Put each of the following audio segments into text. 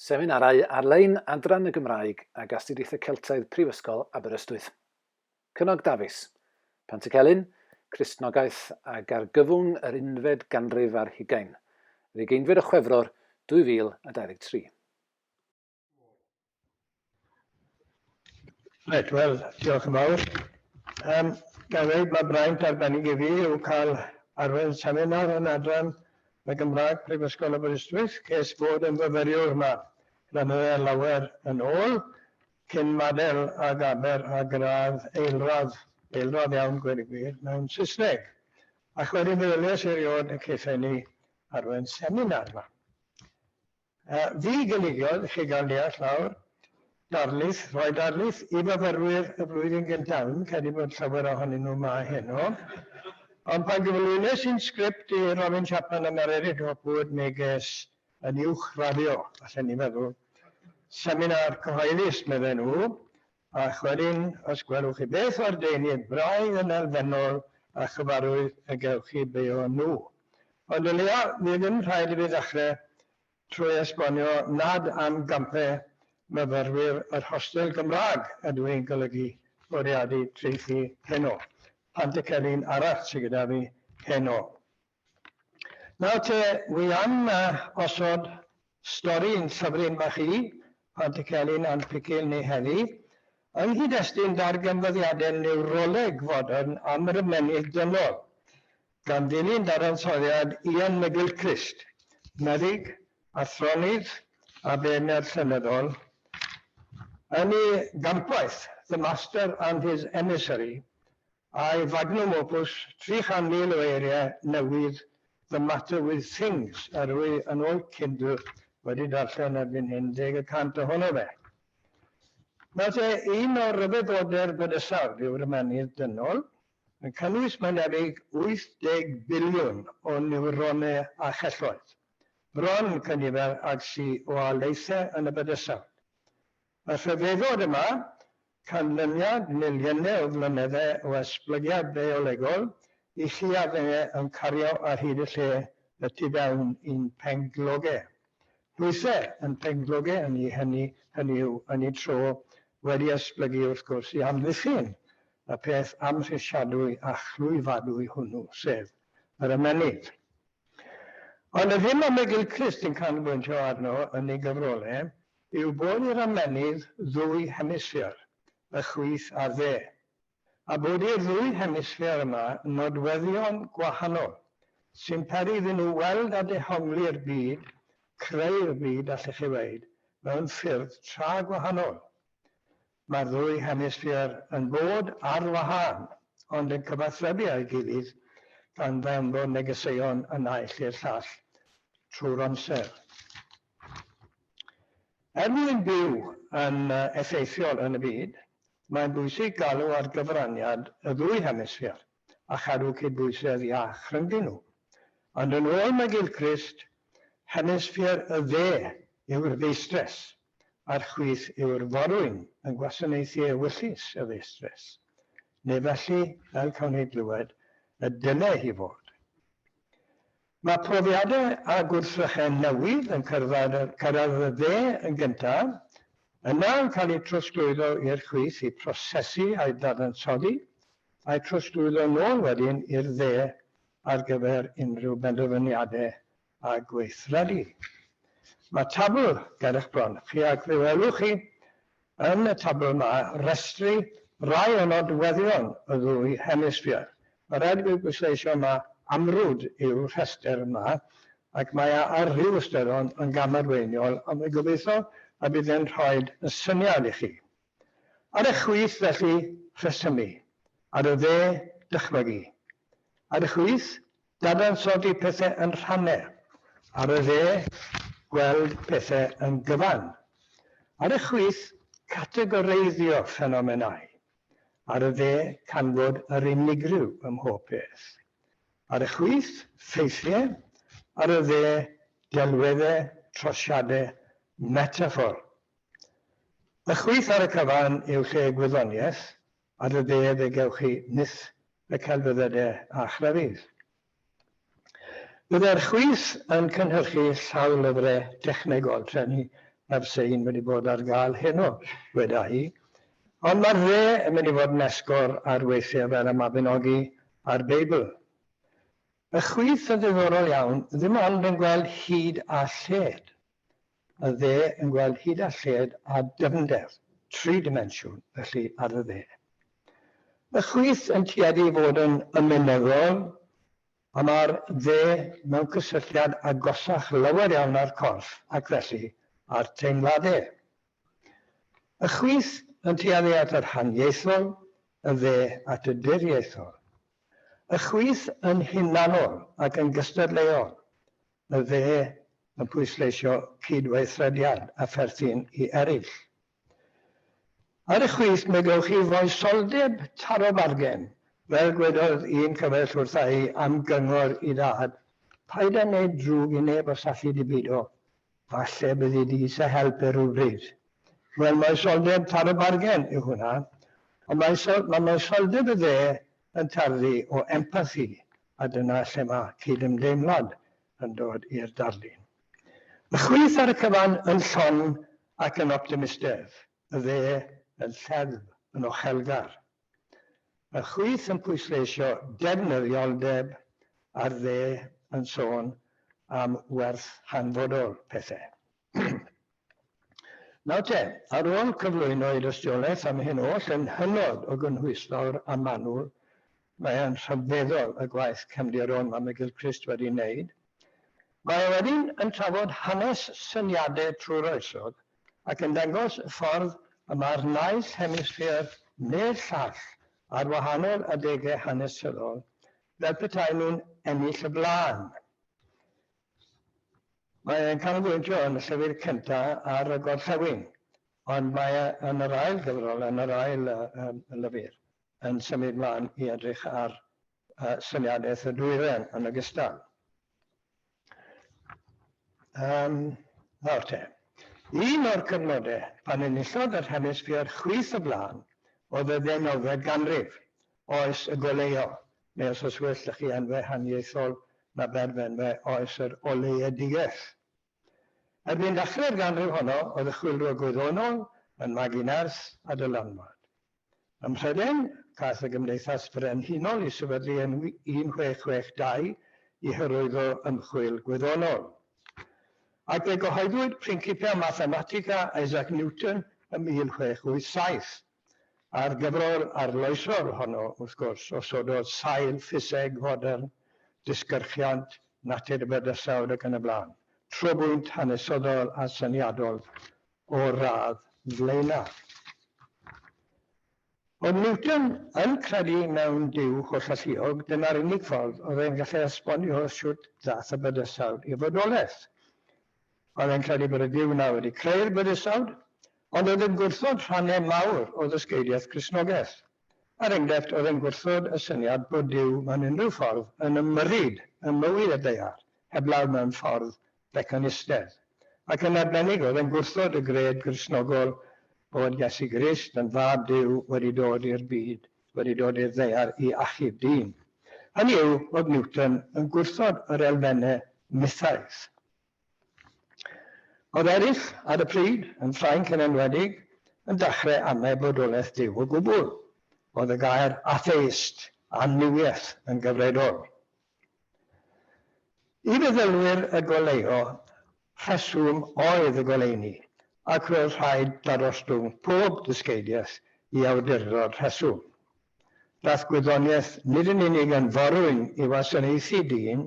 Seminarau ar-lein Adran y Gymraeg ag Astudiaethau Celtaidd Prifysgol Aberystwyth. Cynog Dafis, Pantycelyn, Cristnogaeth ag Argyfwng yr Unfed Ganrif ar Hugain, yr ugeinfed o Chwefror 2023. Right, wel, diolch yn fawr. Um, Gan ddweud, mae braint arbennig i fi yw cael arwain seminar yn adran y Gymraeg Prifysgol Aberystwyth, ces bod yn fyfyriwr yma flynydde lawer yn ôl, cyn madel a gaber a gradd eilradd, eilradd iawn gwir i gwir, mewn Saesneg. Ac wedyn fe ddylies erioed y cethau ni arwain seminar yma. Fi gynigiodd, chi gan ddeall nawr, darlith, rhoi darlith i fyfyrwyr y flwyddyn gyntaf. Dwi'm yn credu bod llawer ohonyn nhw 'ma heno. Ond pan gyflwynes i'n sgript i Robin Chapman a Mererid Hopwood mi ges yn uwchraddio, allen i feddwl, seminar cyhoeddus, medden nhw, a chweryn os gwelwch chi beth o'r deunydd braidd yn elfennol a chyfarwydd y gewch chi beio nhw. Ond o leia fydd ddim rhaid i fi ddechre trwy esbonio nad am gampe myfyrwyr yr hostel Gymraeg ydw i'n golygu bwriadu traethu heno, Pantycelyn arall sy gyda fi heno. Nawr te, wi am osod stori yn llyfryn bach i, Plant y Celyn a'n Picil ni heddi, yng nghyd-destun darganfyddiadau niwroleg fodern am yr ymennydd dynol, gan ddilyn dadansoddiad Ian McGilchrist, meddyg, athronydd a beirniad llenyddol, yn ei gampwaith The Master and His Emissary, I Magnum Opus, 300,000 o eiriau newydd The Matter With Things, a rwy yn oed cyn dwi wedi darllen erbyn hyn deg y cant ohono fe. Mae fe un o ryfeddodau'r bydysawd, yw'r ymennydd dynol, yn cynnwys mae'n debyg 80 biliwn o niwronau a chelloedd, bron cynifer ag sy o alaethau yn y bydysawd. Mae rhyfeddod yma, canlyniad miliynau o flynyddau o esblygiad biolegol, i chi a fe yn cario ar hyd y lle y tu fewn i'n pengloge. Llwythe yn pengloge ynni hynny, hynny yw, ynni tro, wedi esblygu wrth gwrs i amddiffyn y peth amhrisiadwy a chlwyfadwy hwnnw, sef yr ymennydd. Ond y ddim a Miguel Crist yn canolbwyntio arno yn ei gyfrolau I'w bod i'r ymennydd ddwy hemisffer, y chwith a'r dde, a bod i'r ddwy hemisffer yma nodweddion gwahanol, sy'n peri iddyn nhw weld a dehongli'r byd, creu'r byd, allech chi weud, mewn ffyrdd tra gwahanol. Mae'r ddwy hemisffer yn bod ar wahân, ond yn cyfathrebu â'i gilydd gan ddanfon negeseuon y naill i'r llall trwy'r amser. Er mwyn byw yn effeithiol yn y byd, mae'n bwysig galw ar gyfraniad y ddwy hemisffer a chadw cydbwysedd iach rhyngddyn nhw. Ond yn ôl McGilchrist, hemisffer y dde yw'r ddistress, a'r chwith yw'r forwyn yn gwasanaethu ewyllys y feistres, neu felly fel cawn ni glywed y dyle hi fod. Mae profiadau a gwrthrychau newydd yn cyrraedd y dde yn gyntaf, yna yn cael eu trosglwyddo i'r chwith i prosesu a'u dadansoddi, a'u trosglwyddo nôl wedyn i'r dde ar gyfer unrhyw benderfyniadau a gweithredu. Mae tabl ger eich bron chi ac fe welwch chi yn y tabl yma restru rai o nodweddion y ddwy hemisffer. Mae rhaid i fi bwysleisio ma amrwd yw'r rhestr yma ac mae e ar ryw ystyrlon yn gamarweiniol ond fe gobeithio y bydd e'n rhoi syniad i chi. Ar eich chwith felly rhesymu, ar y dde dychmygu, Ar y chwith, dadansoddi pethau yn rhannau. Ar y dde, gweld pethau yn gyfan. Ar y chwith, categoreiddio ffenomenau. Ar y dde, canfod yr unigryw ym mhob peth. Ar y chwith, ffeithiau. Ar y dde, delweddau, trosiadau, metaffôr. Y chwith ar y cyfan yw lle gwyddoniaeth, Ar y de fe gewch chi nyth y celfyddydau a chrefydd. Byddai'r chwith yn cynhyrchu sawl lyfrau technegol trefnu mae'r sein wedi bod ar gael heno, weda hi, ond mae'r dde yn mynd i fod yn esgor ar weithiau fel y Mabinogi a'r Beibl. Y chwith yn ddiddorol iawn, ddim ond yn gweld hyd a lled. Mae dde yn gweld hyd a lled a dyfnder, tri dimensiwn, felly, ar y dde. Mae chwith yn tueddu i fod yn ymenyddol, a mae'r dde mewn cysylltiad agosach lawer iawn â'r corff ac felly â'r teimladau. Mae chwith yn tueddu at yr haniaethol, y dde at y diriaethol. Mae chwith yn hunanol ac yn gystadleuol, Mae fe yn pwysleisio cydweithrediad a pherthyn i eraill. Ar y chwith, mi gewch chi foesoldeb taro bargen. Fel gwedodd un cyfaill wrtha i am gyngor i dad, Paid â wneud drwg i neb os alli di beidio, falle byddi di eisiau help e rywbryd. Wel, moesoldeb taro bargen yw hwnna, ond mae moesoldeb y dde yn tarddu o empathi a dyna lle mae cydymdeimlad yn dod i'r darlun. Y chwith ar y cyfan yn llon ac yn optimistedd, y dde yn lleddf, yn ochelgar. Y chwith yn pwysleisio defnyddioldeb a'r dde yn sôn am werth hanfodol pethau. Nawr te, ar ôl cyflwyno ei dystiolaeth am hyn oll yn hynod o gynhwysfawr a manwl, mae e'n rhyfeddol y gwaith cefndir o'n Mam y Gilchrist wedi wneud. Mae e wedyn yn trafod hanes syniade trwy'r oesodd ac yn dangos y ffordd y mae'r naill hemisffer neu'r llall ar wahanol adegau hanesyddol fel petai nhw'n ennill y blaen. Mae e'n canolbwyntio yn y llyfr cyntaf ar y gorllewin, ond mae e yn yr ail gyfrol, yn yr ail lyfr, yn symud mlaen i edrych ar syniadaeth y dwyrain yn ogystal. Um, nawr te. Un o'r cyfnodau pan enillodd yr hemisffer chwith y blaen oedd y ddeunawfed ganrif, oes y goleuo, neu os oes well 'da chi enwau haniaethol na berfenwau oes yr oleuedigaeth. Erbyn ddechrau'r ganrif honno, oedd y chwilwr gwyddonol yn magu nerth a dylanwad. Ym Mhrydain, caiff y Gymdeithas Frenhinol ei sefydlu yn 1662 i hyrwyddo ymchwil gwyddonol. Ac fe gyhoeddwyd Principia Mathematica Isaac Newton ym 1687. A'r gyfrol arloesol honno, wrth gwrs, osododd sail ffiseg fodern, disgyrchiant, natur bydysawd ac yn y blaen, trobwynt hanesyddol a syniadol o'r radd flaenaf. Oedd Newton yn credu mewn Duw hollalluog, dyna'r unig ffordd oedd e'n gallu esbonio shwt ddaeth y bydysawd i fodolaeth. Oedd e'n credu bod y Duw yna wedi creu'r bydysawd, ond oedd yn gwrthod rhannau mawr o ddysgeidiaeth Gristnogaeth. Er enghraifft, oedd e'n gwrthod y syniad bod Duw mewn unrhyw ffordd yn ymyrryd ym mywyd y ddaear, heblaw mewn ffordd fecanistedd. Ac yn arbennig, oedd e'n gwrthod y gred Gristnogol bod Iesu Grist yn fab Duw wedi dod i'r byd. wedi dod i'r ddaear i achub dyn. Hynny yw bod Newton yn gwrthod yr elfennau mythaidd. Oedd eraill ar y pryd, yn Ffrainc yn enwedig, yn dachrau amau bodolaeth Duw o gwbl. Oedd y gair atheist, annuwiaeth, yn gyfredol. I feddylwyr y goleuo, rheswm oedd y goleuni, ac roedd rhaid darostwng pob dysgeidiaeth i awdurdod rheswm. Daeth gwyddoniaeth nid yn unig yn forwyn i wasanaethu dyn,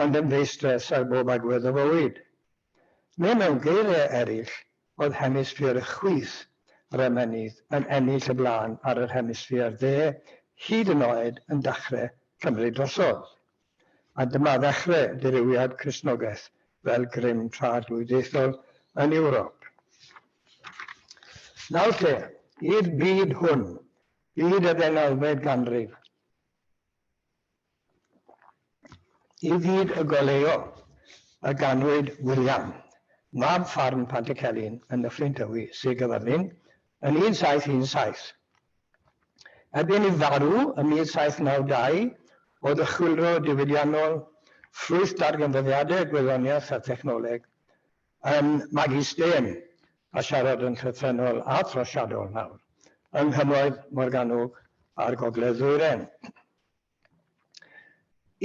ond yn feistres ar bob agwedd o fywyd. Neu mewn geiriau eraill, Oedd hemisffer y chwith yr ymennydd yn ennill y blaen ar yr hemisffer dde hyd yn oed yn dachre cymryd drosodd. A dyma ddechre dirywiad Cristnogeth fel grym trad-lwydiaethol yn Ewrop. Nawr lle i'r byd hwn, byd y ddeunawfed ganrif? I fyd y goleuo y ganwyd William, mab ffarm Pantycelyn yn Nyffryn Tywi, Sir Gaerfyrddin, yn 1717. Erbyn ei farw ym 1792, o ddychwylro diwydiannol, ffrwyth darganfyddiadau gwyddoniaeth a thechnoleg, Ym magu stêm, a siarad yn llythrennol a throsiadol nawr, yng Nghymroedd Morgannwg a'r Gogledd Ddwyrain.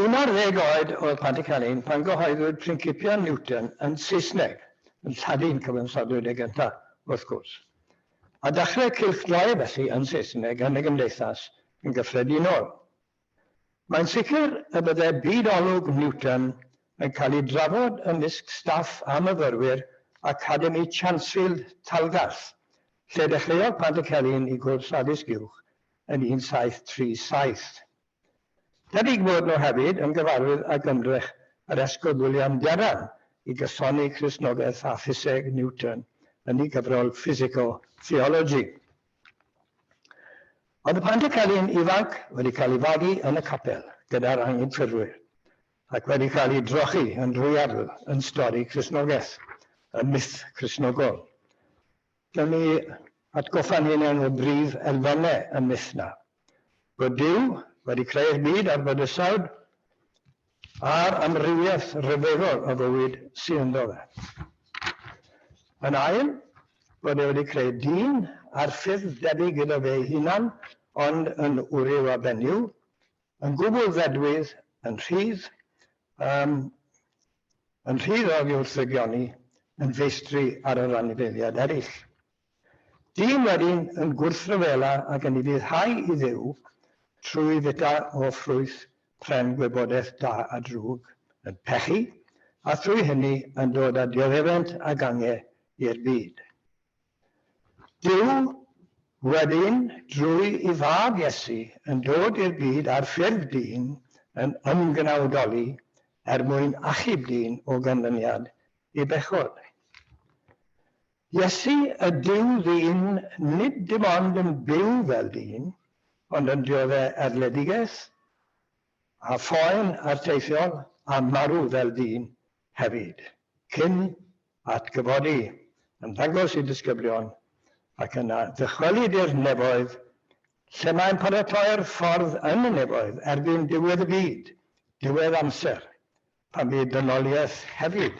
11 oed oedd Patrick Allen pan gyhoeddwyd Principia Newton yn Saesneg, yn Lladin cyfansodwyd e gyntaf, wrth gwrs. A dachrau cylchdroe felly yn Saesneg yn y gymdeithas yn gyffredinol. Mae'n sicr y bydde byd olwg Newton yn cael ei drafod ymysg staff a myfyrwyr Academi Chansfield Talgarth, lle dechreuodd Pantycelyn ei gwrs addysg uwch yn 1737. Debyg fod nhw hefyd yn gyfarwydd ag ymdrech yr Esgob William Derham i gysoni Cristnogaeth a ffiseg Newton yn ei gyfrol Physical Theology. Mae dy Pantycelyn ifanc wedi cael ei fagu yn y capel gyda'r anghydffurfwyr, ac wedi cael ei drochi yn drwyadl yn stori Cristnogaeth, y myth Cristnogol. Gallwn ni atgoffa'n hunain o brif elfennau y myth 'na. Bod Duw wedi creu'r byd a'r bydysawd, a'r amrywiaeth ryfeddol o fywyd sy ynddo fe. Yn ail, bod e wedi creu dyn ar ffyrdd debyg iddo fe'i hunan ond yn wryw a benyw, yn gwbl ddedwydd, yn rhydd, yym, yn rhydd oddi wrth ddygioni, yn feistri ar yr anifeiliaid eraill. Dyn wedyn yn gwrthryfela ac yn ufuddhau i Dduw trwy fwyta o ffrwyth pren gwybodaeth da a drwg, yn pechu, a thrwy hynny yn dod â dioddefent a gange i'r byd. Duw wedyn, drwy i fab Iesu, yn dod i'r byd ar ffurf dyn, yn ymgnawdoli er mwyn achub dyn o ganlyniad i bechod. Iesu ydyw ddyn nid dim ond yn byw fel dyn, ond yn diodde' erledigeth, a phoen arteithiol, a marw fel dyn hefyd, cyn atgyfodi, yn dangos i disgyblion, ac yna ddychwelyd i'r nefoedd, lle mae'n paratoi'r ffordd yn y nefoedd erbyn diwedd y byd, diwedd amser, a bydd dynoliaeth hefyd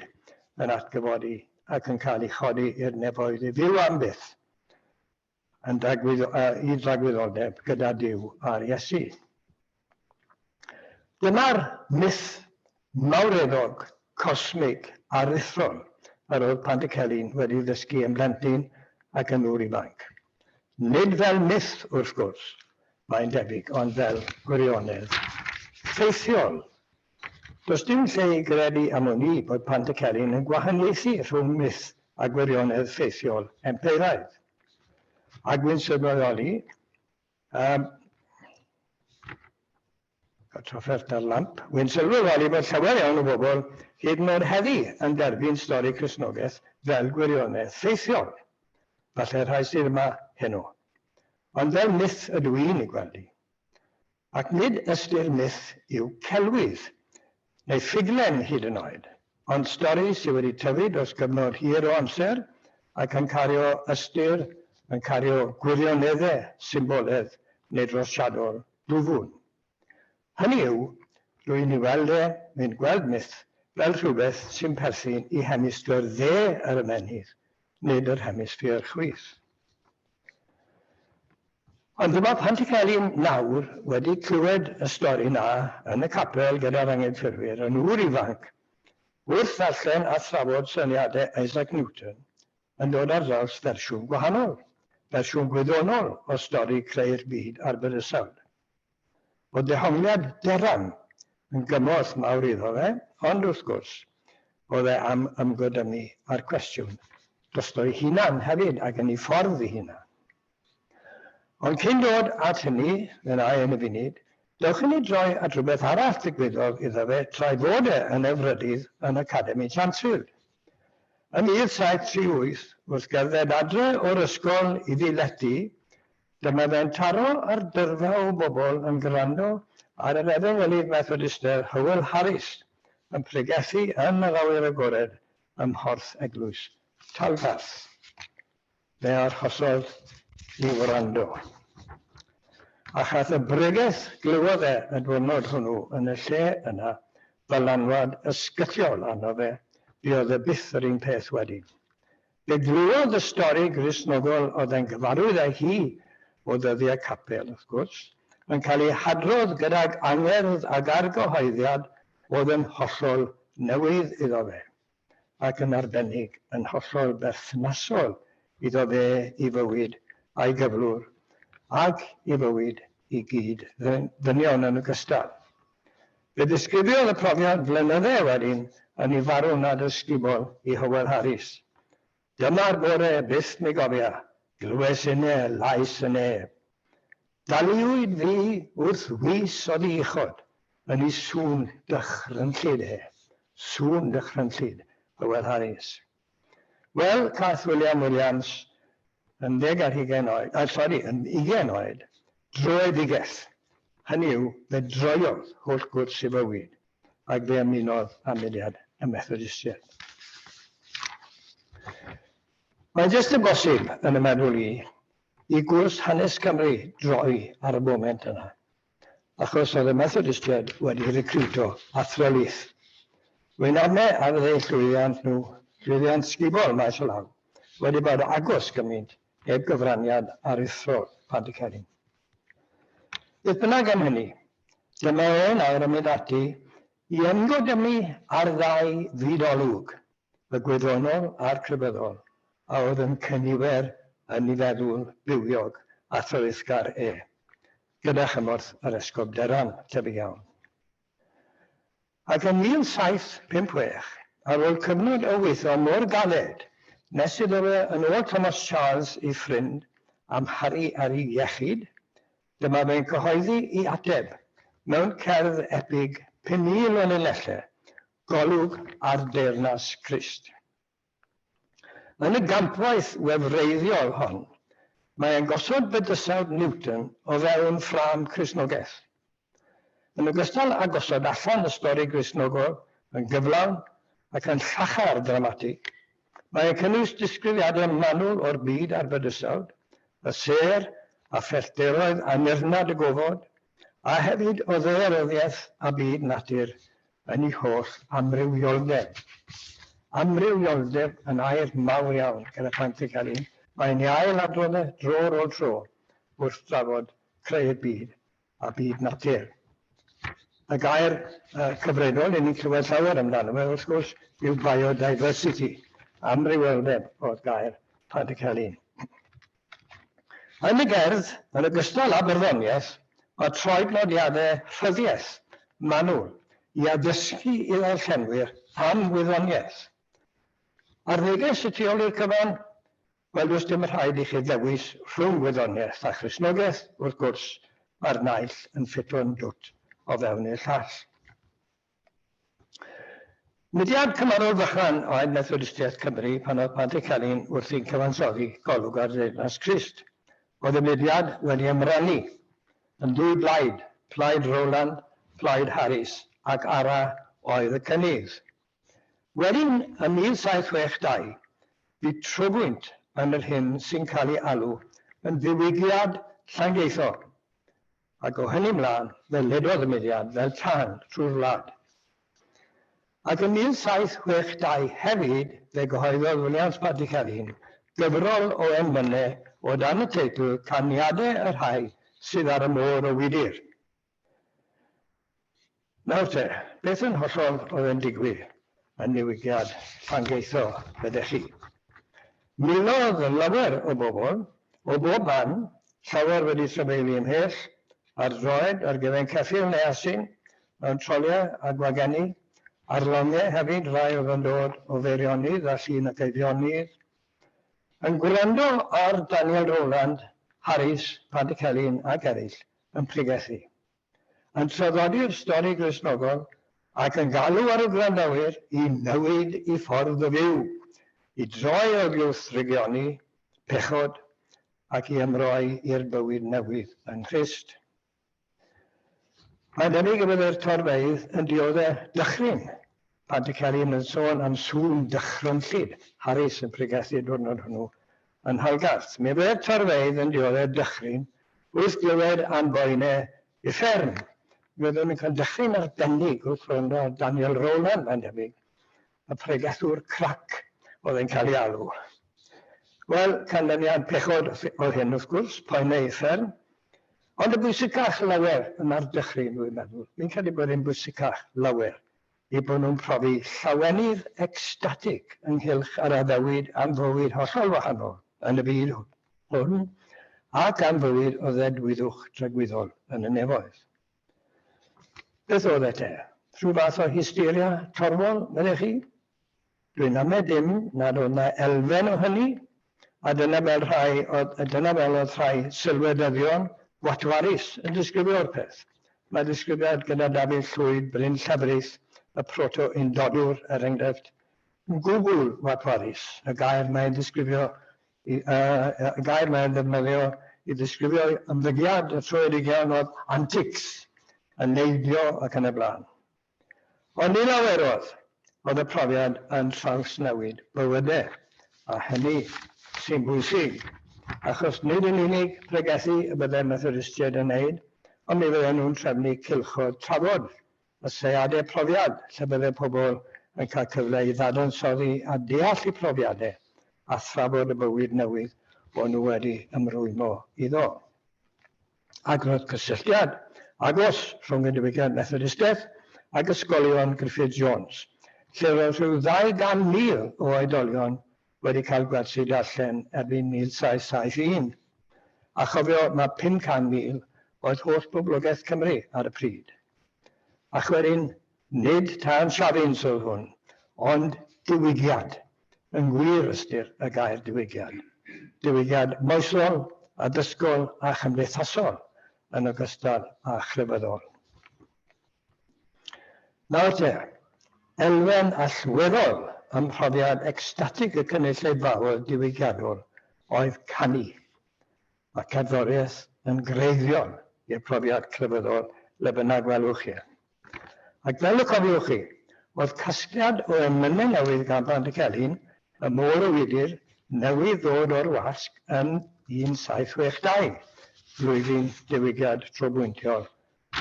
yn atgyfodi ac yn cael ei chodi i'r nefoedd i fyw am byth yn dragwyddoldeb gyda Duw a'r Iesu. Dyma'r myth mawreddog, cosmig, aruthrol yr oedd Pantycelyn wedi ddysgu yn blentyn ac yn ŵr ifanc. Nid fel myth, wrth gwrs, mae'n debyg, ond fel gwirionedd ffeithiol. Does dim lle i gredu am wn i bod Pant y Celyn yn gwahaniaethu rhwng myth a gwirionedd ffeithiol empeiraidd. A gwy'n sylweddoli, ym y trafferth a'r lamp, gwy'n sylweddoli bod llawer iawn o bobl hyd yn oed heddi yn derbyn stori Cristnogaeth fel gwirionedd ffeithiol, falle rhai sydd yma heno. Ond fel myth ydw i'n ei gweld hi. Ac nid ystyr myth yw celwydd, neu ffuglen hyd yn oed, ond stori sydd wedi tyfu dros gyfnod hir o amser ac yn cario ystyr, yn cario gwirionedde, symboledd, neu drosiadol dwfwn. Hynny yw, rwy'n ei weld e, rwy'n gweld myth fel rhywbeth sy'n perthyn i hemisffer dde yr ymennydd, nid yr hemisffer chwith. Ond dyma pan ti cael un nawr wedi clywed y stori 'na yn y capel gyda'r angenffyrwyr yn ŵr ifanc, wrth ddarllen a thrafod syniadau Isaac Newton yn dod ar draws fersiwn gwahanol, fersiwn gwyddonol o stori creu'r byd a'r bydysawd. Bod dehongliad Derran yn gymorth mawr iddo fe, ond wrth gwrs, bod e am ymgodynnu â'r cwestiwn drosto'i hunan hefyd, ac yn ei ffordd ei hunan. Ond cyn dod at hynny, meddai yn y funud, dewch i ni droi at rywbeth arall ddigwyddodd iddo fe tra ei fod e yn Efrydydd yn Academi Chantril. Ym 1738, wrth gerdded adre o'r ysgol i ddiledi, dyma fe'n taro ar dyrfa o bobl yn gwrando ar yr efengylydd Methodistaidd Hywel Harris yn pregethu yn yr awyr agored ym Mhorth Eglwys Talgarth. Fe arhosodd i wrando. Ac ath y bregeth glywodd e y dwyrnod hwnnw yn y lle yna ddylanwad ysgythiol arno fe, buodd e byth yr un peth wedyn. Fe glywodd y stori Gristnogol oedd e'n gyfarwydd â hi o ddyddiau capel, wrth gwrs, yn cael ei hadrodd gydag angerdd ag argyhoeddiad oedd yn hollol newydd iddo fe. ac yn arbennig yn hollol berthnasol iddo fe i fywyd a'i gyflwr, ac i fywyd i gyd ddynion yn ogystal. Fe ddisgrifiodd y profiad flynydde wedyn yn ei farw nad ysgubol i Hywel Harris. Dyma'r bore byth mi gofia, glywes inne lais y neb. Daliwyd fi wrth fis o ddi-uchod, yn i sŵn dychrynllyd e, sŵn dychrynllyd, Hywel Harries. Wel, cath William Williams, yn ddeg ar hugain oed, a, sori, yn ugain oed, droed ddigell. Hynny yw, fe droiodd holl gwrs i fywyd. ac fe ymunodd â mudiad y Methodistiaid. Mae'n jyst yn bosib, yn y meddwl i, i gwrs hanes Cymru droi ar y foment yna, achos oedd y Methodistiaid wedi recriwto athro lith. Wy'n arne ar fydde llwyddiant nhw, llwyddiant sgubor maes o law, wedi bod agos gymaint heb gyfraniad aruthrol Pantycelyn. Beth bynnag am hynny, Dyma e nawr yn mynd ati i ymgodymu â'r ddau fyd-olwg, y gwyddonol a'r crefyddol, a oedd yn cynifer yn ei feddwl bywiog a threisgar e, gyda chymorth yr Esgob Derran, tebyg iawn. Ac yn 1756, ar ôl cyfnod o weithio mor galed, nes iddo fe yn ôl Thomas Charles ei ffrind, amharu ar ei iechyd, dyma fe'n cyhoeddi ei ateb mewn cerdd epig 5,000 o linellau, Golwg ar deyrnas Crist. Yn y gampwaith wefreiddiol hon, mae e'n gosod bydysawd Newton o fewn ffrâm Cristnogaeth. Yn ogystal â gosod allan y stori Gristnogol yn gyflawn ac yn llachar dramatig, mae e'n cynnwys disgrifiadau manwl o'r byd a'r bydysawd, y sêr a phellteroedd annirnad y gofod, a hefyd o ddaearyddiaeth a byd natur yn ei holl amrywioldeb. Amrywioldeb yn air mawr iawn gan y plant yn cael un, mae'n ei ail-adrodda dro ar ôl tro wrth drafod creu'r byd a byd natur. Y gair cyfredol yn ni'n clywed llawer amdano fe, wrth gwrs, yw biodiversity, amrywioldeb oedd gair Plant y Celyn. Yn y gerdd, yn ogystal â barddoniaeth, mae troed nodiadau rhyddiaith manwl i addysgu i ddarllenwyr am wyddoniaeth. Ar neges y tu ôl i'r cyfan, wel does dim rhaid i chi ddewis rhwng wyddoniaeth a Christnogaeth, wrth gwrs, mae'r naill yn ffito'n dwt o fewn i'r llall. Mudiad Cymharol Fychan oedd Methodistiaeth Cymru pan oedd Padri Celyn wrthi'n cyfansoddi golwg ar Ddeyrnas Crist. Oedd y mudiad wedi ymrenu yn ddwy blaid, Plaid Rowland, Plaid Harris, ac Ara oedd y cynnydd. Wedyn, ym 1762, bu trobwynt yn yr hyn sy'n cael ei alw yn ddiwygiad Llangeitho. Ac o hynny 'mlân, fe ledodd y mudiad fel tân trwy'r wlad. Ac yn 1762 hefyd fe gyhoeddodd Williams Patrick Elin gyfrol o emynau o dan y teitl 'Caniadau y Rhai sydd ar y Môr o Wydr'. Nawr te, beth yn hollol oedd yn digwydd yn newidiad Llangeitho, meddech chi? Milodd lawer o bobl, o bob man, llawer wedi trafeilu ymhell, ar droed, ar gefn ceffyl neu asyn, mewn troliau a gwagenni, ar longiau hefyd, rai oedd yn dod o Feirionydd a Llun ac Eifionydd, yn gwrando ar Daniel Rowland, Harris, Paddy Celyn ac eraill yn pregethu. yn traddodi'r stori Gristnogol ac yn galw ar y gwrandawyr i newid i ffordd o fyw, i droi oddiwrth drygioni, pechod, ac i ymroi i'r bywyd newydd yng Nghrist. Mae'n debyg y byddai'r torfeydd yn diodde' dychryn Pan ti cael un yn sôn am sŵn dychrynllyd Harris yn pregethu y diwrnod hwnnw yn Nhalgarth, mi roedd torfeydd yn dioddef dychryn wrth glywed am boene uffern. Mi oeddwn yn cael dychryn arbennig wrth wrando ar Daniel Rowland, mae'n debyg, y pregethwr crac oedd e'n cael ei alw. Wel, canlyniad pechod oedd hyn, wrth gwrs, poene uffern. Ond yn bwysicach lawer na'r dychryn, rwy'n meddwl. Fi'n credu bod e'n bwysicach lawer eu bod nhw'n profi llawenydd ecstatig ynghylch yr addewid am fywyd hollol wahanol yn y byd hwn ac am fywyd o ddedwyddwch dragwyddol yn y nefoedd. Beth oedd e te? Rhyw fath o hysteria torfol, meddech chi? Dwi'n amau dim nad oedd 'na elfen o hynny, a dyna fel rhai oedd, dyna fel oedd rhai sylwedyddion watwarus yn disgrifio'r peth. Mae disgrifiad gyda Dafydd Llwyd, Bryn Llefrith, y proto-undodwr, er enghraifft, yn gwbl watwarus. Y gair mae'n ddisgrifio, y gair mae'n ddefnyddio i ddisgrifio'i ymddygiad y troed ugian oedd antics, yn neidio ac yn y blaen. Ond ni lawerodd, oedd y profiad yn trawsnewid bywydau, a hynny sy'n bwysig, achos nid yn unig pregethu y byddai'r Methodistiaid yn wneud, ond mi fydden nhw'n trefnu cylchoedd trafod a seiadau profiad lle byddai pobl yn cael cyfle i ddadansoddi a deall eu profiadau a thrafod y bywyd newydd o'n nhw wedi ymrwymo iddo. Agwedd cysylltiad agos rhwng y diwygiad Methodistaidd ac ysgolion Griffith Jones, lle roedd rhyw ddau gan mil o oedolion wedi cael gwersi darllen erbyn 1771. A chofio mae pum can mil oedd holl boblogaeth Cymru ar y pryd. Ac wedyn Nid tân safins oedd hwn, ond diwygiad, yn wir ystyr y gair diwygiad. Diwygiad moesol, addysgol a chymdeithasol yn ogystal â chrefyddol. Nawr te, elfen allweddol ym mhrofiad ecstatig y cynulleidfa oedd diwygiadol, oedd canu. Mae cerddoriaeth yn greiddiol i'r profiad crefyddol le bynnag welwch chi e. Ac fel y cofiwch chi, oedd casgliad o emynau newydd gan Band y Celyn, Y Môr y Wydr, newydd ddod o'r wasg yn 1762, flwyddyn diwygiad trobwyntiol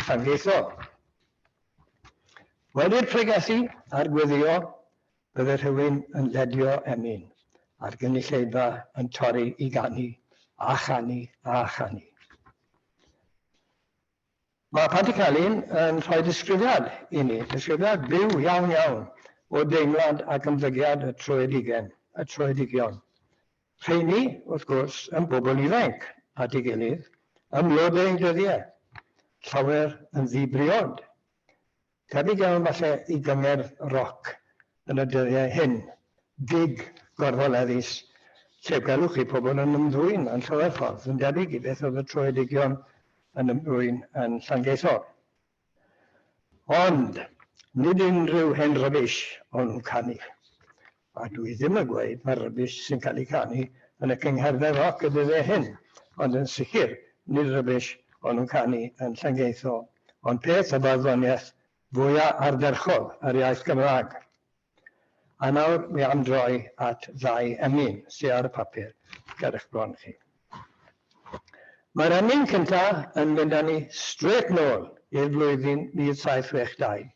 Llangieithog. Wedi'r pregethu a'r gweddïo, Bydde rhywun yn ledio emyn a'r gynulleidfa yn torri i ganu a chanu a chanu. Mae Panti Celyn yn rhoi disgrifiad i ni, disgrifiad byw iawn iawn o deimlad ac ymddygiad y troedigen, y troedigion. Rheini, wrth gwrs, yn bobl ifainc, at ei gilydd, ym mlodau eu dyddiau, llawer yn ddi-briod. Tebyg iawn falle i gyngerdd roc yn y dyddiau hyn, gig gorfoleddus lle gwelwch chi pobl yn ymddwyn yn llawer ffordd yn debyg i beth oedd y troeddigion yn ymddwyn yn Llangeithor. Ond, nid unrhyw hen rybish o'n nhw'n canu. A dwi ddim yn gweud mae rubbish sy'n cael ei canu yn y cyngherddau roc y dyddiau hyn, ond yn sicr nid rubbish o'n nhw'n canu yn Llangeitho, ond peth y barddoniaeth fwya ardderchog yr iaith Gymraeg. A nawr mi am droi at ddau emyn sy ar y papur ger eich bron chi. Mae'r emyn cynta yn mynd â ni strêt nôl i'r flwyddyn 1762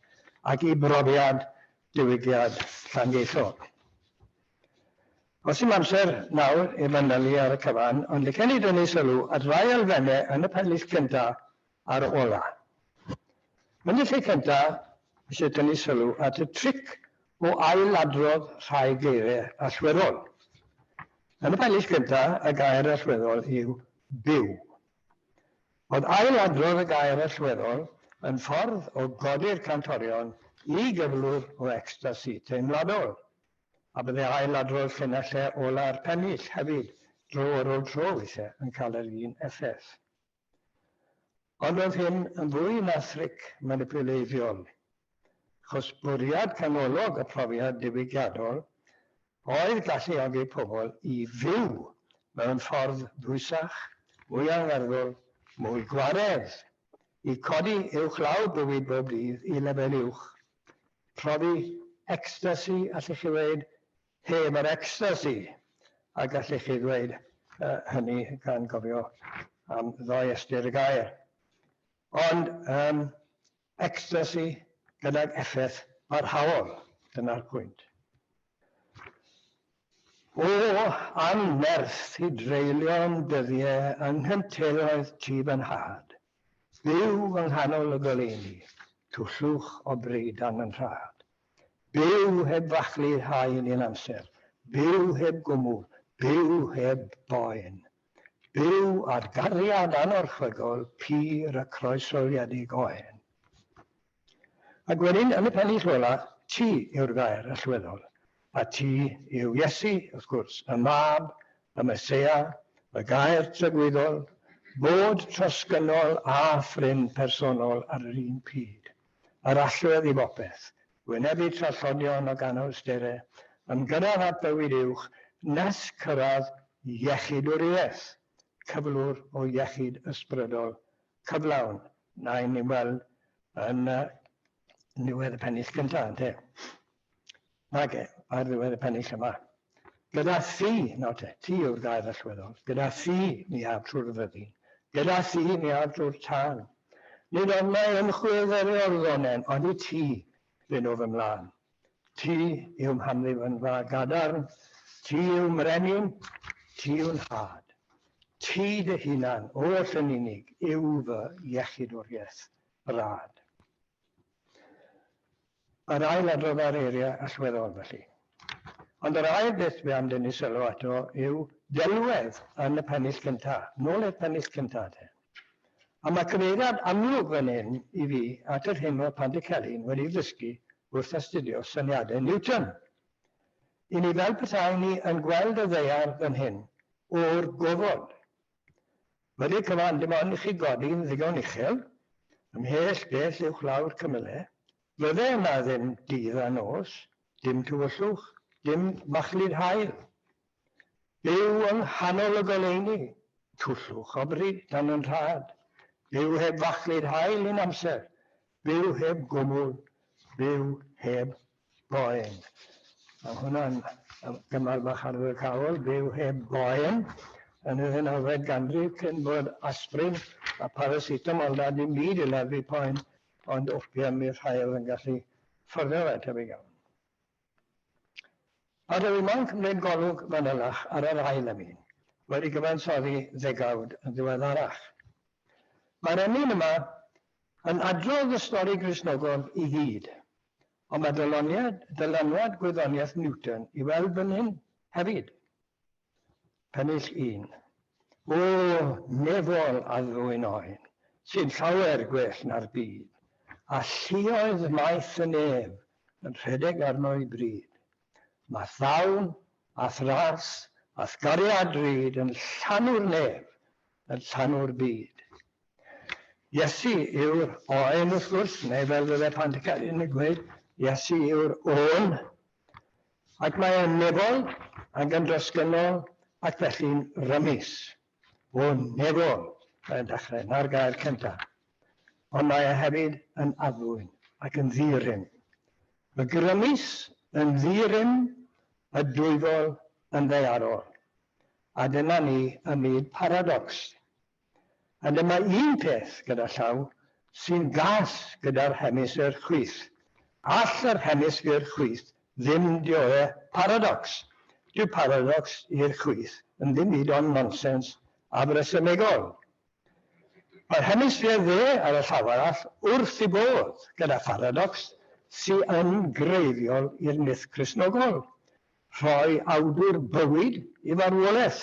ac i brofiad diwygiad Llangeithob. Os yw'n amser nawr i fanylu ar y cyfan, ond licen i dynnu sylw at ddau elfennau yn y pennill cynta a'r ola. Yn y lle cynta, eisiau tynnu sylw at y tric o ail-adrodd rhai geiriau allweddol. Yn y pennill cynta, y gair allweddol yw byw. Ond ailadrodd y gair allweddol yn ffordd o godi'r cantorion i gyflwr o ecstasi teimladol, a bydde ailadrodd llinelle ola'r pennill hefyd dro ar ôl tro weithiau yn cael yr un effaith. Ond oedd hyn yn fwy na thric manipuleiddiol, achos bwriad canolog y profiad diwygiadol oedd galluogi pobl i fyw mewn ffordd dwysach, mwy angerddol, mwy gwaredd, i codi uwchlaw bywyd bob dydd i lefel uwch, profi ecstasi, allwch chi ddweud, heb yr ecstasi, a gallwch chi ddweud hynny gan gofio am ddoe ystyr y gair. Ond, yym, Ecstacy gydag effaith barhaol, dyna'r pwynt. O, anferth i dreulio'n dyddie yng nghynteuoedd tŷ fy nhad, byw yng nghanol y goleuni, twllwch o breidan yn rhad. Byw heb fachlu haen un amser, byw heb gwmwl, byw heb boen. Byw ar gariad anorchfygol pur a croeshoeliedig o hen. Ac wedyn, yn y pennill ola, ti yw'r gair allweddol, a ti yw Iesu, wrth gwrs, y Mab, y Meseia, y Gair Tragwyddol, Bod trosgynnol a phrin personol ar yr un pryd. yr allwedd i bopeth, wynebu trallodion ac anhawstere, ymgyrraedd at fywyd uwch nes cyrraedd iechyd-wriaeth, cyflwr o iechyd ysbrydol cyflawn, na ein ni'n weld yn niwedd y pennill cyntaf, ynte? Mage, ar ddiwedd y pennill yma. Gyda thi, nawr te, ti yw'r gair allweddol, gyda thi mi af trwy'r fyddin, gyda thi mi af drwy'r tân. Nid ond mae ymchwil dderior ddonen, ond i ti fy nhw fy mlân. Ti yw mhamlif yn dda gadarn, ti yw mrenin, ti yw nhad. Ti dy hunan, oll yn unig, yw fy iechydwriaeth rad. Yr ail adrodd ar eiriau allweddol, felly. Ond yr ail beth fe am dynnu sylw ato yw delwedd yn y pennill cynta', nôl i'r pennill cynta', de. A mae cyfeiriad amlwg fan hyn i fi at yr hyn oedd Pantycelyn wedi ddysgu wrth astudio syniadau Newton. I ni fel petai ni yn gweld y ddaear fan hyn, o'r gofod, Wedi cyfan dim ond i chi godi yn ddigon uchel, ymhell bell uwchlaw'r cymyle, fydde yna ddim dydd a nos, dim tywyllwch, dim machlud haul. Byw yng nghanol y goleuni, twllwch o bryd dan yn rhad. Byw heb fachlud haul un amser, byw heb gwmwl, byw heb boen. Mae hwnna'n gymar bach ardderchawol, byw heb boen yn y ddeunawfed ganrif cyn bod aspirin a paracetamol na dim byd i leddfu poen ond opium i'r rhai oedd yn gallu fforddio fe, tebyg iawn. Ar yr Imam cymryd golwg fanylach ar yr ail emyn, wedi cyfansoddi ddegawd yn ddiweddarach. Mae'r emyn yma yn adrodd y stori Gristnogol i gyd, Ond mae dyluniad, dylanwad gwyddoniaeth Newton i weld fan hyn hefyd. Pennill un. O, nefol a ddwyn oen, sy'n llawer gwell na'r byd, a lluoedd maeth y nef yn rhedeg arno i bryd. Mae llawn, a thras, a thgariad drud yn llanw'r nef, yn llanw'r byd. Iesu yw'r Oen wrth gwrs, neu fel fydde Pantycelyn yn gweud, Iesu yw'r Ôl. Ac mae e'n nefol ac yn drosgynnol ac felly'n rymus. O nefol, mae'n dechrau, 'na'r gair cynta. Ond mae e hefyd yn addfwyn ac yn ddi-rym. Y grymus yn ddi-rym, y dwyfol yn ddaearol. A dyna ni ym myd paradocs. A dyma un peth gyda llaw sy'n gas gyda'r hemisffer chwith. All yr hemisffer chwith ddim dioddef paradocs. Dyw paradocs i'r chwith yn ddim byd ond nonsens afresymegol. Mae'r hemisffer dde ar y llaw arall wrth ei bodd gyda pharadocs sy yn greiddiol i'r myth Cristnogol, rhoi awdwr bywyd i farwolaeth.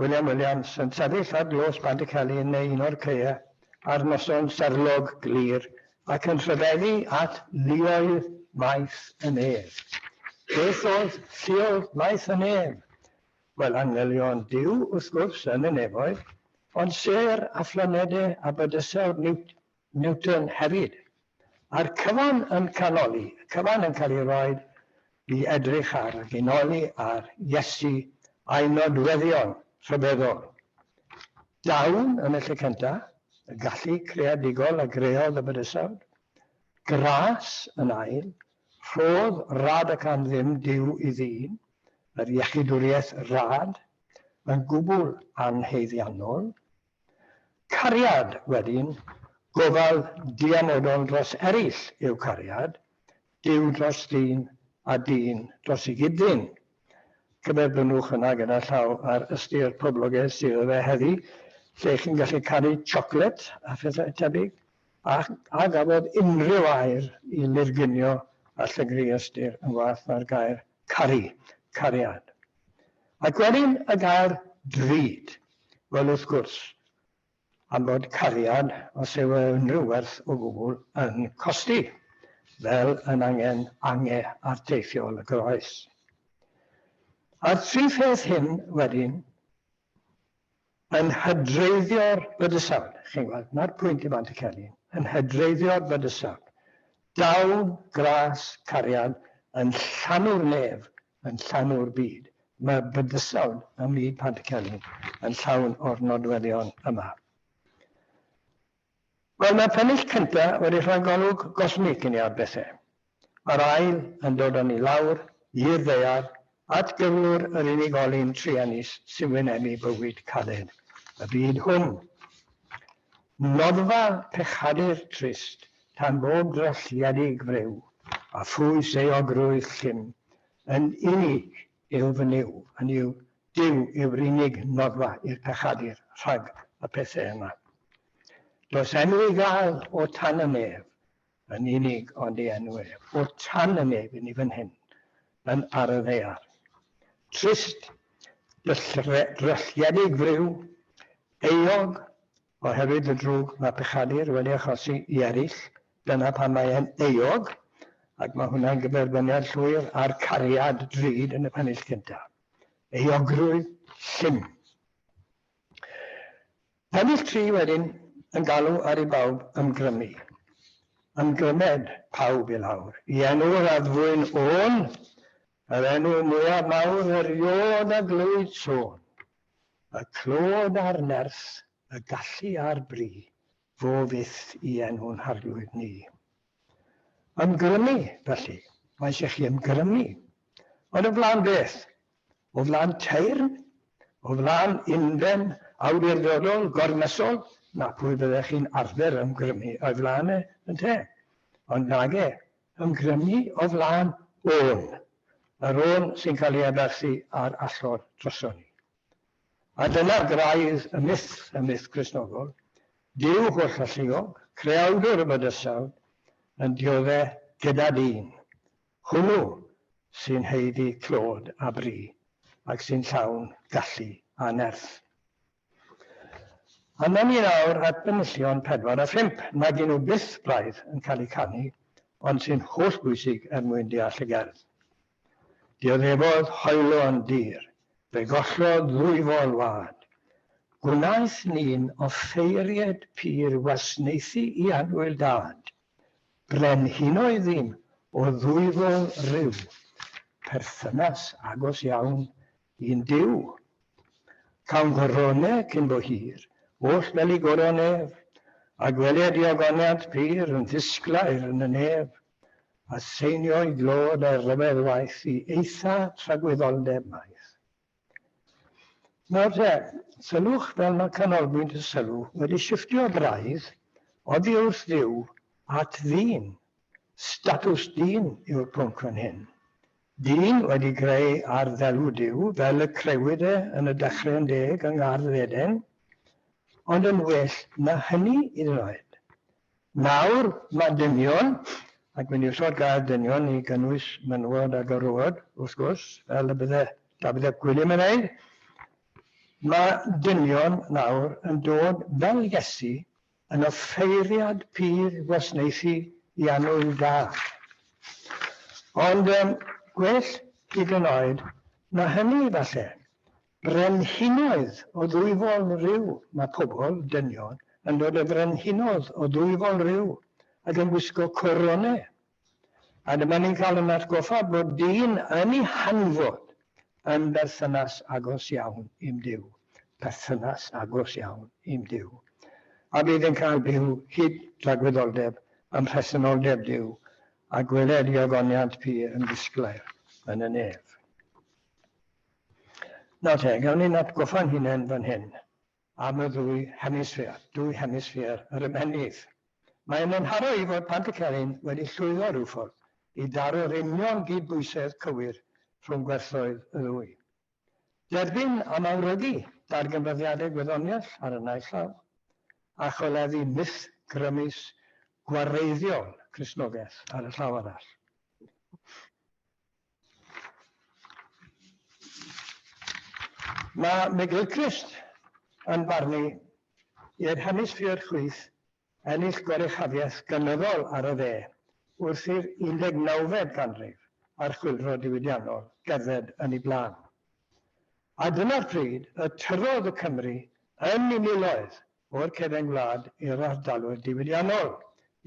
William Williams yn sefyll ar dlos Bandicelli yn neu un o'r caeau ar noson serlog glir ac yn rhyfeddu at luoedd Maes y Nef. Beth oedd lluoedd Maes y Nef? Wel, angylion Duw, wrth gwrs, yn y nefoedd, ond sêr a phlanedau a bydysawd niwt Newton hefyd. Mae'r cyfan yn canoli, y cyfan yn cael ei roi i edrych ar a genoli ar Iesu a'i nodweddion rhyfeddol. Dawn yn y lle cyntaf, y gallu creadigol a greodd y bydysawd. Gras yn ail, rhodd rad ac am ddim Duw i ddyn, yr iechydwriaeth rad, yn gwbl anhaeddiannol, Cariad, wedyn, gofal diamodol dros eraill yw cariad, Duw dros ddyn, a dyn dros ei gyd-ddyn. Cyferbynnwch yna gyda llaw ar ystyr poblogaidd sydd o fe heddi, lle chi'n gallu caru siocled a phethau tebyg, a, a gafodd unrhyw air i lurgunio a llygru ystyr yn waeth na'r gair caru, cariad. Ac wedyn y gair 'drud'. Wel, wrth gwrs, am fod cariad, os yw e unrhyw werth o gwbl, yn costi, fel yn angen ange arteithiol y groes. A'r tri pheth hyn wedyn yn hydreiddio'r bydysawd, chi'n gwybod, na'r pwynt i Bant y Celyn, yn hydreiddio'r bydysawd. Dawn, gras, cariad, yn llanw'r nef, yn llanw'r byd. Mae bydysawd ym myd Pant y Celyn yn llawn o'r nodweddion yma. Wel, mae'r pennill cynta wedi rhoi golwg gosmig i ni ar bethe. Mae'r ail yn dod â ni lawr, i'r ddaear, at gyflwr yr unigolyn truenus sy'n wynebu bywyd caled y byd hwn. Noddfa pechadur trist, tan bob drylliedig friw, a phwys euogrwydd llym, yn unig yw fy niw, hynny yw, Duw yw'r unig noddfa i'r pechadur rhag y pethe yma. Does enw i gael o tan y nef yn unig ond ei enw ef, o tan y nef i ni fan hyn yn ar y ddaear. Trist, drylltiedig friw, euog oherwydd y drwg mae pechadur wedi achosi i eraill, dyna pam mae e'n euog, ac mae hwnna'n gyferbyniad llwyr â'r cariad drud yn y pennill cyntaf. euogrwydd llym. Ennill tri wedyn yn galw ar i bawb ymgrymu. Ymgrymed pawb i lawr. I enw'r addfwyn ôn, yr enw mwyaf mawr eriod a glywyd sôn. Y clod a'r nerth, y gallu a'r bri, fo fyth i enw'n harglwydd ni. Ymgrymu, felly, mae eisiau chi ymgrymu. Ond o flaen beth? O flaen teyrn? O flaen unfen awdurdodol, gormesol? Na, pwy fyddech chi'n arfer ymgrymu o'i flaen e, ynte? Ond nage, ymgrymu o flaen ôn, yr ôn sy'n cael ei addasu ar allor droson ni. A dyna graidd y myth, y myth Cristnogol, Duw holl-alluog, creawdwr y bydysawd, yn diodde' gyda dyn. Hwnnw sy'n haeddu clod a bri, ac sy'n llawn gallu a nerth. Arnon ni nawr at benillion pedwar a phump, nag y'n nhw byth braidd yn cael eu canu, ond sy'n holl-bwysig er mwyn deall y gerdd. Dioddefodd hoylo yn dir, fe gollodd ddwy fol wad. Gwnaeth ni'n offeiried pur wasnaethu i annwyl dad. Brenhinoedd ddim o ddwyfol ryw perthynas agos iawn i'n Duw. Cawn gorone cyn bo hir, oll fel i goron ef, a gweled diogoniant pur yn ddisglair yn y nef. Aseinio i glod a rhyfedd waith i eitha tragwyddoldeb maith. Nawr te, sylwch fel mae canolbwynt y sylw wedi shifftio braidd oddi wrth Dduw at ddyn. Statws dyn yw'r pwnc fan hyn. Dyn wedi greu ar ddelw Duw fel y crewyd e yn y Dechreu'n Deg yng Ngardd Eden, ond yn well na hynny hyd yn oed. Nawr, mae dynion, ac mae'n usod gair dynion i gynnwys menywod a gyrrwod, wrth gwrs, fel y bydde Dafydd ap Gwilym yn wneud, mae dynion nawr yn dod fel Iesu yn offeiriad pur gwasnaethu i annwyl da. Ond gwell hyd yn oed na hynny, falle, Brenhinoedd o ddwyfol rhyw Mae pobl, dynion, yn dod â brenhinoedd o ddwyfol rhyw ac yn gwisgo coronau. A dyma ni'n cael yn atgoffa bod dyn yn ei hanfod yn berthynas agos iawn i'm Duw. Perthynas agos iawn i'm Duw. A bydd yn cael byw hyd dragwyddoldeb ym mhresenoldeb Duw a gweled i ogoniant pur yn disglair yn y nef. Nawr te, gawn ni'n atgoffa'n hunain fan hyn am y ddwy hemisffer, dwy hemisffer yr ymennydd. Mae yn enharo i fod Pantycelyn wedi llwyddo rhyw ffordd i daro'r union gydbwysedd cywir rhwng gwerthoedd y ddwy. Derbyn a mawrygu darganfyddiadau gwyddoniaeth ar y naill llaw, a choleddu myth grymus gwareiddiol Cristnogaeth ar y llaw arall. Mae McGilchrist yn barnu i'r hemisffer chwith ennill goruchafiaeth gynyddol ar y dde wrth i'r 19fed ganrif a'r Chwyldro Diwydiannol gerdded yn ei blaen. A dyna'r pryd y tyrrodd y Cymry yn i miloedd o'r cefn gwlad i'r ardaloedd diwydiannol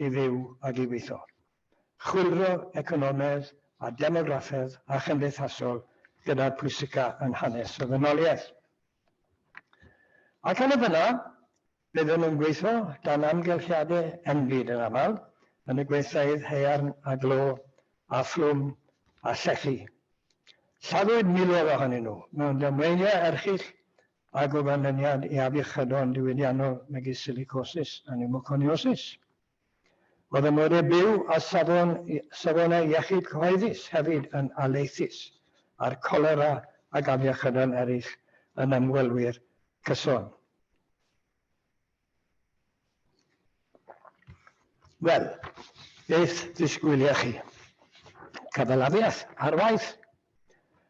i fyw ag i weithio. chwyldro economaidd a demograffaidd a chymdeithasol gyda'r pwysica yn hanes y ddynoliaeth. Ac yn y fynna, byddwn yn gweithio dan amgylchiadau enbyd yn aml, yn y gweithfeydd haearn a glo a phlwm a llechi. Lladdwyd miloedd ohonyn nhw mewn damweiniau erchyll a gofynyniad i afiechydon diwydiannol megis silicosis a niwmoconiosis. Mae fy ngweddill byw a safonau iechyd cyhoeddus hefyd yn alaethus â'r colera ac afiechydon eraill yn ymwelwyr cyson. Wel, beth ddisgwylia chi? Cyfalafiaeth ar waith,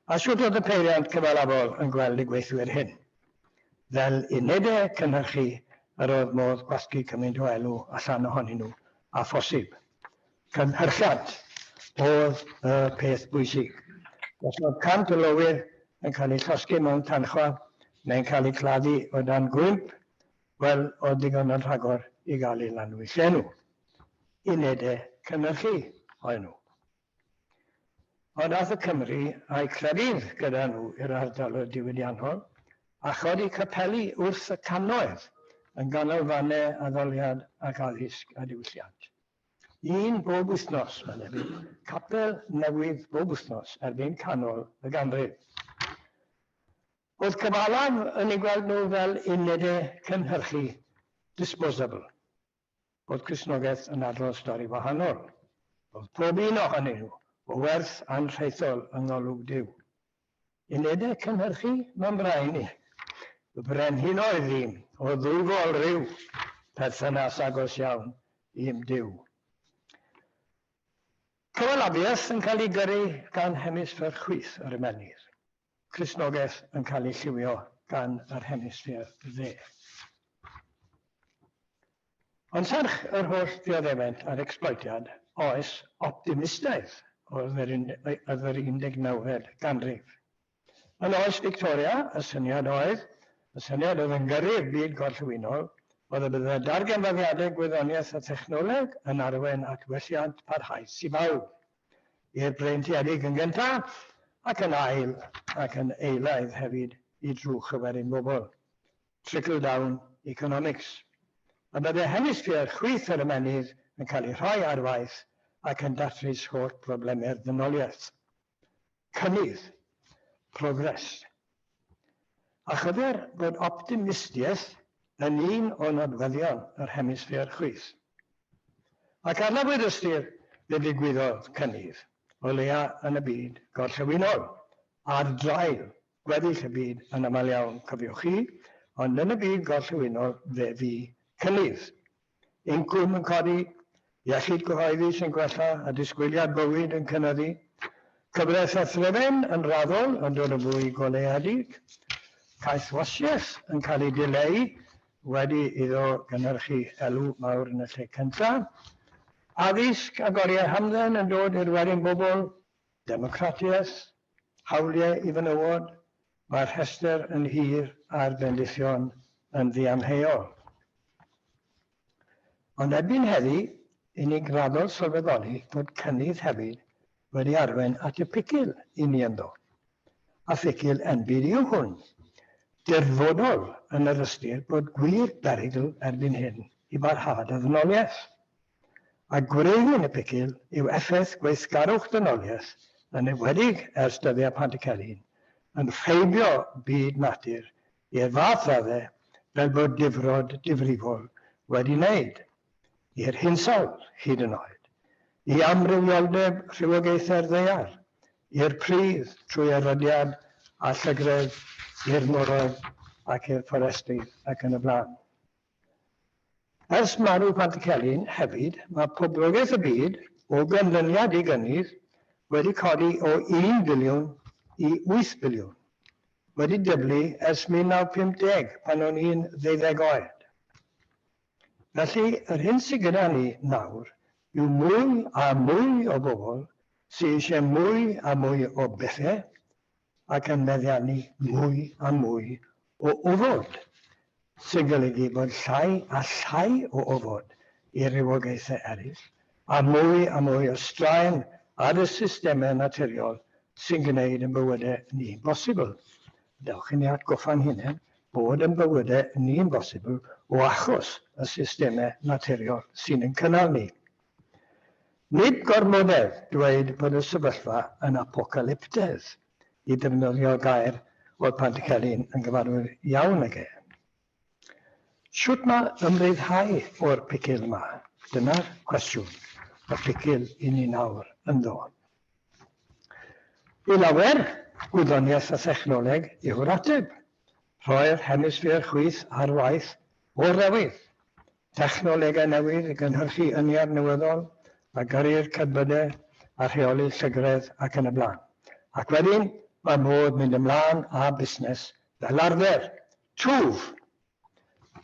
A sut oedd y peiriant cyfalafol yn gweld y gweithwyr hyn? Fel unedau cynhyrchu yr oedd modd gwasgu cymaint o elw allan ohonyn nhw â phosib. Cynhyrchiant oedd y peth bwysig. Os oedd 100 o lowyr yn cael eu llosgi mewn tanchfa neu'n cael eu claddu o dan gwymp, wel, oedd digon yn rhagor i gael eu lanwyll enw. Unedau cynhyrchu oedden nhw. Ond aeth y Cymry a'u clefyd gyda nhw i'r ardal y diwydiannol, a chodi capeli wrth y cannoedd, yn ganolfannau addoliad ac addysg a diwylliant. Un bob wythnos, medde fi, capel newydd bob wythnos erbyn canol y ganrif. O'dd cyfalaf yn eu gweld nhw fel unede cynhyrchu disposable. bod Cristnogaeth yn adrodd stori wahanol. Roedd pob un ohonyn nhw o werth anrhaethol yng ngolwg Duw. Unedau cynhyrchu Mam Brain i Y Brenhinoedd ddim o ddwfol rhyw perthynas agos iawn i'm Duw. Cyfalafiaeth yn cael ei gyrru gan hemisffer chwith yr ymennydd. Cristnogaeth yn cael ei lliwio gan yr Hemisffer Dde. Ond serch yr holl ddioddefaint a'r ecsbloetiad, oes optimistaidd oedd yr oedd yr 19fed ganrif. Yn oes Victoria, y syniad oedd, y syniad oedd yn gyrru'r byd gorllewinol, oedd y bydde darganfyddiadau gwyddoniaeth a thechnoleg yn arwain at welliant parhaus i bawb. i'r breintiedig yn gyntaf ac yn ail ac yn eilaidd hefyd i drwch y werin bobl, trickle down economics, y bydde hemisffer chwith yr ymennydd yn cael ei rhoi ar waith ac yn datrys holl brobleme'r ddynoliaeth. Cynnydd, progress. A chyfer bod optimistiaeth yn un o nodweddion yr hemisffer chwith. Ac adnabuwyd ystyr be ddigwyddodd cynnydd, o leia yn y byd gorllewinol, ar draul Gweddill y byd yn aml iawn, cofiwch chi, ond yn y byd gorllewinol fe fu cynnydd. Incwm yn codi, iechyd cyhoeddus yn gwella a disgwyliad bywyd yn cynyddu. Cyfraith a threfen yn raddol yn dod yn fwy goleuedig. Caethwasiaeth yn cael ei dileu wedi iddo gynhyrchu elw mawr yn y lle cyntaf. Addysg ac oriau hamdden yn dod i'r werin bobl. Democratiaeth, Hawliau i fenywod, mae'r rhestr yn hir a'r bendithion yn ddiamheuol. Ond erbyn heddi, i ni'n graddol sylweddoli bod cynnydd hefyd wedi arwain at y picil i ni ynddo, a phicil enbyd yw hwn. Dirfodol yn yr ystyr bod gwir berygl erbyn hyn i barhad y ddynoliaeth. a gwreiddyn y picil yw effaith gweithgarwch dynoliaeth yn enwedig ers dyddiau Pantycelyn, yn rheibio byd natur i'r fath raddau fel bod difrod difrifol wedi wneud, i'r hinsawdd hyd yn oed, i amrywioldeb rhywogaethau'r ddaear, i'r pridd trwy erydiad a llygredd, i'r moroedd ac i'r fforestri ac yn y blaen. Ers marw Pantycelyn hefyd, mae poblogaeth y byd, o ganlyniad i gynnydd, wedi codi o un biliwn i wyth biliwn, wedi dyblu ers 1950 pan o'n i'n ddeuddeg oed. Felly, yr hyn sy gyda ni nawr yw mwy a mwy o bobl sy eisiau mwy a mwy o bethe, ac yn meddiannu mwy a mwy o ofod, sy'n golygu bod llai a llai o ofod i rywogaethau eraill, a mwy a mwy o straen ar y systemau naturiol sy'n gwneud ein bywydau ni'n bosibl. Dewch i ni atgoffa'n hunain bod ein bywydau ni'n bosibl o achos y systemau naturiol sy'n ein cynnal ni. Nid gormodedd dweud bod y sefyllfa yn apocalyptedd, i ddefnyddio gair oedd Pantycelyn yn gyfarwydd iawn ag e. Shwt ma ymryddhau o'r picil 'ma? Dyna'r cwestiwn y picil i ni nawr ynddo. I lawer, gwyddoniaeth a thechnoleg yw'r ateb. Rhoi'r hemisffer chwith ar waith o'r ddewydd. Technolegau newydd i gynhyrchu ynni'r newyddol a gyrru'r cerbydau a rheoli llygredd ac yn y blaen. Ac wedyn mae modd mynd ymlaen â busnes fel arfer. Twf!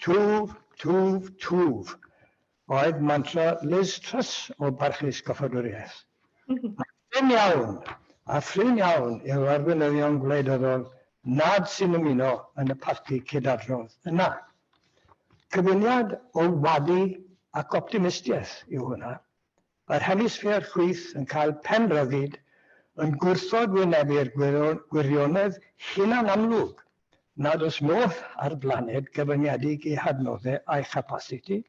Twf, twf, twf! oedd mantra Liz Truss o barchus goffadwriaeth. Mae'n brin iawn a phrin iawn i'r arweinyddion gwleidyddol nad sy'n ymuno yn y parti cydadrodd yna. Cyfuniad o wadu ac optimistiaeth yw hwnna, yr hemisffer chwith yn cael pen rhyddid, yn gwrthod wynebu'r gwirionedd hunanamlwg nad oes modd â'r blaned gyfyngedig ei hadnoddau a'i chapasiti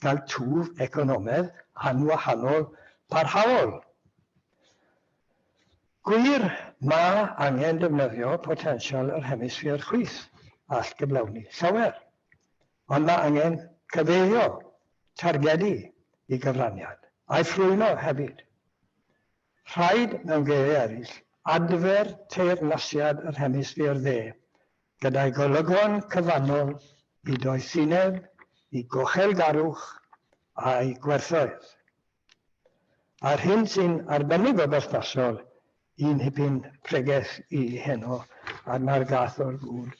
gael twf economaidd anwahanol parhaol. Gwir, mae angen defnyddio potensial yr hemisffer chwith all gyflawni llawer, ond mae angen cyfeirio targedu i gyfraniad, a'i ffrwyno hefyd. Rhaid, mewn geiriau eraill, adfer teyrnasiad yr hemisffer dde gyda'i golygon cyfannol i doethineb, i gochel garwch a'i gwerthoedd. A'r hyn sy'n arbennig o berthnasol i Nhipyn Pregeth i heno, a'r na'r gath o'r gŵr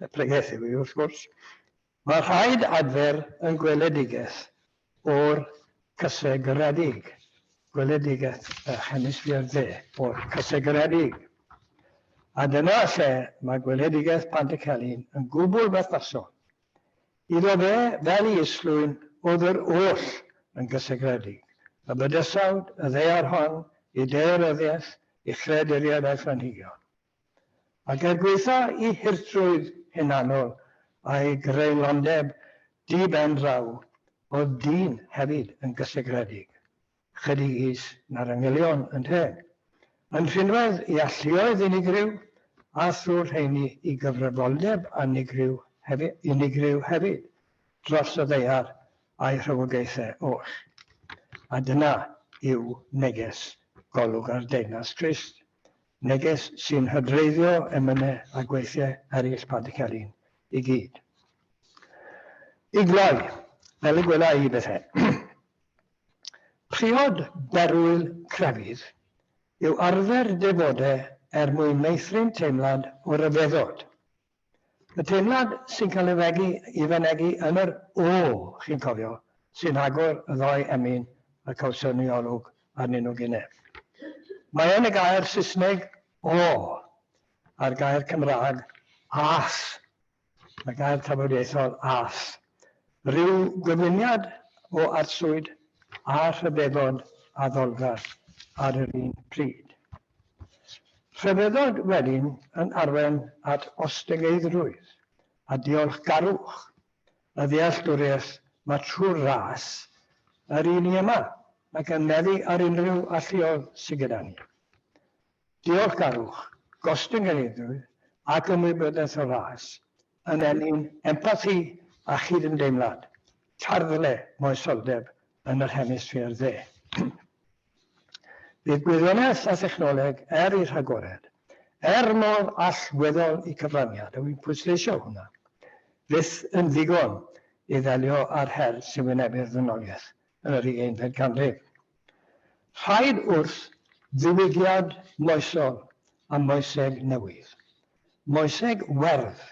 y pregeth yw hi, wrth gwrs, mae rhaid adfer yn gweledigaeth o'r cysegriedig, gweledigaeth y hemisffer dde o'r cysegriedig. A dyna lle mae gweledigaeth Pantycelyn yn gwbl berthnasol, Iddo fe, fel i Islwyn, oedd yr oll yn gysegredig, y bydysawd, y ddaear hon, ei daearyddiaeth, ei chreaduriaid a'i phlanhigion. Ac er gwaetha' i hurtrwydd hunanol a'i greulondeb di-ben-draw, oedd dyn hefyd yn gysegredig. Chydig is na'r angylion, ynte? Yn rhinwedd i alluoedd unigryw, a thrwy'r rheiny i gyfrifoldeb anigryw hefyd, unigryw hefyd, dros y ddaear a'i rhywogaethau oll. A dyna yw neges golwg ar deyrnas Crist, neges sy'n hydreiddio emynau a gweithiau eraill Pantycelyn i gyd. I gloi, fel y gwela i bethau, Priod berwyl crefydd yw arfer dy fod e er mwyn meithrin teimlad o ryfeddod. Y teimlad sy'n cael ei fegu i fynegi yn yr 'O', chi'n cofio, sy'n agor y ddou emyn y cawson ni olwg arnyn nhw gynnau. Mae yn y gair Saesneg 'O' a'r gair Cymraeg 'Ass' Mae gair tafodieithol as. Rhyw gyfuniad o arswyd a rhyfeddod addolgar ar yr un pryd. Rhyfeddod wedyn yn arwain at ostegeiddrwydd a diolchgarwch y ddealltwriaeth mae trwy ras yr un i yma ac yn meddu ar unrhyw alluoedd sydd gyda ni. diolchgarwch, gostyngiadwy ac ymwybyddiaeth o ras, yn ennyn empathi a chydymdeimlad, tarddle moesoldeb yn yr Hemisffêr Dde. Bydd gwyddoniaeth a thechnoleg er eu rhagored, er mor allweddol y cyfraniad, a wi'n pwysleisio hwnna, fyth yn ddigon i ddelio â'r her sy'n wynebu'r ddynoliaeth yn yr ugeinfed ganrif. Rhaid wrth ddiwygiad moesol a moeseg newydd, moeseg werdd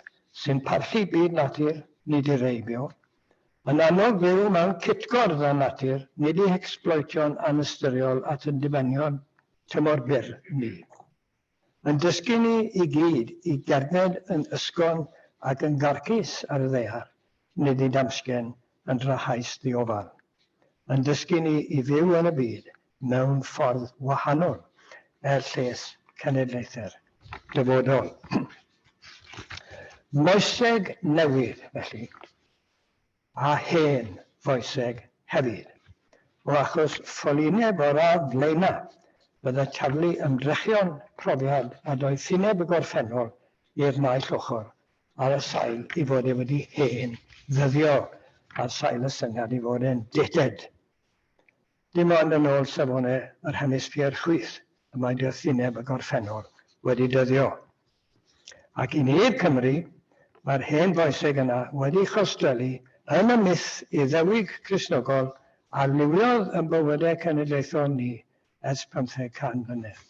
sy'n parchu byd natur, nid i reibio, yn annog byw mewn cytgord â natur, nid i hecsbloetio'n anystyriol at ein dibenion tymor byr ni. Mae'n dysgu ni i gyd i gerdded yn ysgafn ac yn garcus ar y ddaear, nid i damsgen yn drahaus ddiofal. Mae'n dysgu ni i fyw yn y byd mewn ffordd wahanol er lles cenedlaethau'r dyfodol. Moeseg newydd, felly. a hen foeseg hefyd. O achos ffolineb o'r ardd flaenaf, bydde Charlie yn drechion profiad nad oedd ffineb y gorffennol i'r naill ochr, ar y sail ei fod e wedi hen ddyddio, ar sail y syniad ei fod e'n dead-dead. Dim ond yn ôl safonau yr hemisffer chwith y mae doethineb y gorffennol wedi dyddio. Ac i ni i'r Cymry, mae'r hen foeseg yna wedi chostwellu yn y myth Iddewig Cristnogol a liwiodd yn bywydau cenedlaethol ni ers pymtheg can mlynedd.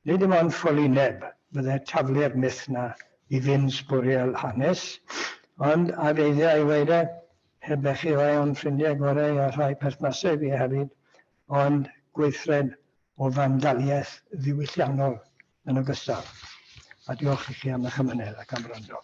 Nid dim ond ffoli neb fydde taflu'r myth 'na i ddim sbwriel hanes, ond a geiddia i ddweud e, heb bechu rhai o'n ffrindiau gorau a rhai perthnaseg fi hefyd, ond gweithred o fandaliaeth ddiwylliannol yn ogystal. A diolch i chi am eich amynedd ac am wrando.